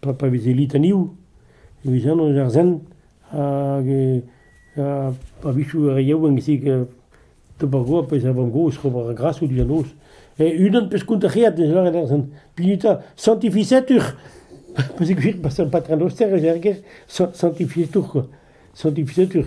Pa pa veze litaniou e veze an eus ar Sent hag a-wechoù re yaouank e d'ober goap ez a vamm gozh ober ar grasoù diouzh an noz. E unan peus kontafiat ez lâret ar Sent. Pinita, santificetur! Pa se gwir, pa son patronoster ez er gêr, santificetur, quoi. Santificetur.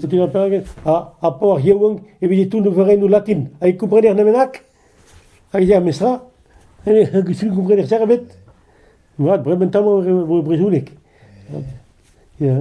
Setu eo peget ar paour yaouank evit e toull overennoù latin. Ha e komprener nemenak hag e ya memestra. E komprener ster ebet. Vat, bremen tammoù e brezhoneg. Ya.